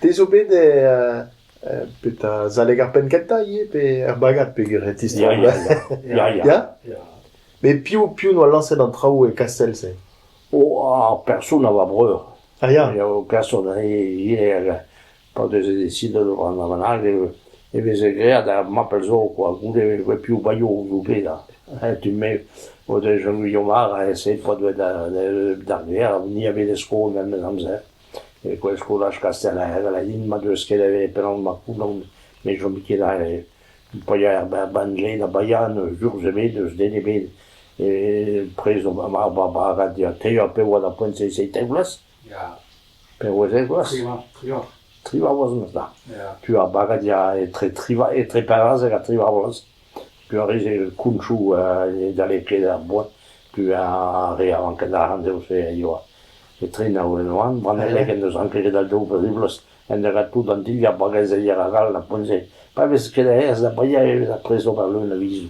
Te zo bet bet a-zaleg ar penn kentañ ivez pe er bagad peogwir e tistroomp ya ya ya ya met piv piv 'noa lañset an traoù e Kastell-se oh ar person a oa breur ah ya ya o person ivez pa veze desidet o rannañ bennak e veze graet ar mapel zo kwa goude piv baio o bedañ tu-me o deus Jean-Guillaume Ara aet p'o doa d'ar gêr ni a veze skol memes amzer école skolaj Kastellaer aladin ma deus ket avet penaos ma c'houlan met chom ket paeañ er banje da baeañ n'eus urzh ebet n'eus den ebet e prezont ar bagad tev a pe oa da poent se seitek vloaz Peurwezh egoas, triwec'h vloaz 'm eus bet. Tu ar bagad ya etre triwec'h etre pevarzek ha triwec'h vloaz. Piv a ris e kounchoù e dalekled er boad, piv a re a ranken arc'hant evel-se a yoa etre nav en oan. Brannellek en deus ranket ket dal daou pe tri bloaz en degas tout an dilhad bagazeier arall d'ar poent-se. Pa vez ket aes da briañ e vez ar pres d'ober leun a vizoù.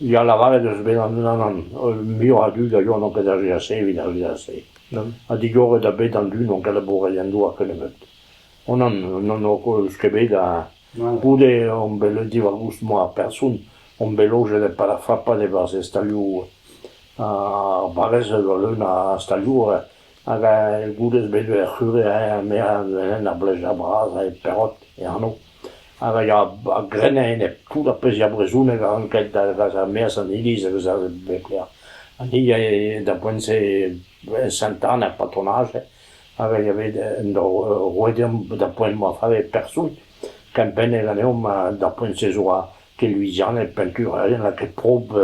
Ya lavaret eus bet an unan-an holl muioc'h a dud a yoa o pedagogia se evit ar vizaj-se ha digoret a bet an dud n'ont ket labouret en doa ket nebeut. Onnan n'on koulz ket bet ha goude on bet leun diwar-goust moa person, on bet lojet e Palafrappan e-barzh e stalioù ar barrez a zo leun a stalioù Hag goude ez bet er c'hure ha merañ en ur bleuzañ bras e Perrot e anv. Hag a ya a grenn a-enep tout ar pezh ya brezhoneg a ranket da vezañ maez an iliz a vezañ beklañ. Ha ni a yae da poent-se e Sainte-Anne er patronage hag a ya bet en-dro roet deomp da poent ma fave person kempennet ganeomp d'ar poent-se zo ket Louisianed peinturerien lakaet prob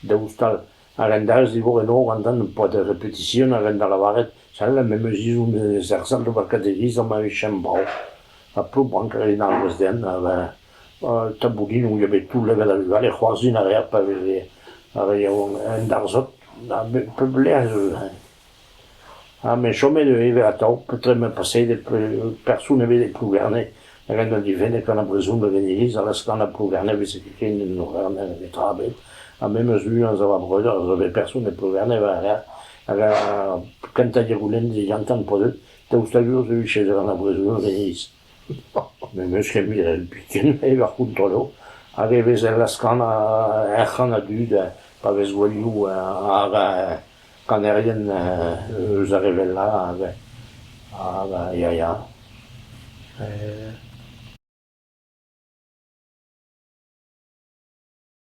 daoust all. A-hend-all zivour eno a-hendad ur boa da repetision a-hend da lavaret sell memes izom ez erzhas d'ober kadegiz ha ma vijen brav. Ha ploubrank a rin ar gwezh-den ha ben taboulinoù eo bet tout level a vugale c'hoarzhin a reas pa veze ar re yaouank en darzhot ha pep lec'h ez eus eñ. Ha me 'chome neuze ivez atav petra emañ pasetet person ebet e Plougerne hag en doa difennet gant ar brezhoneg en iliz ha lastr gant ar Plougerne e veze ket ken en Auvernhe hag netra ebet ha me 'm eus lu anzav va breudeur a zo bet person e Plougerne hag ar kentañ diroulenn digantañ 'm po deuet daoust hag sur ez evit chezer gant ar brezhoneg en iliz. N'em eus ket miret biken eo va c'hontrollo hag e vez e laskañ er c'han a dud pa vez gouelioù ar kanerien eus ar re wellañ hag ya ya.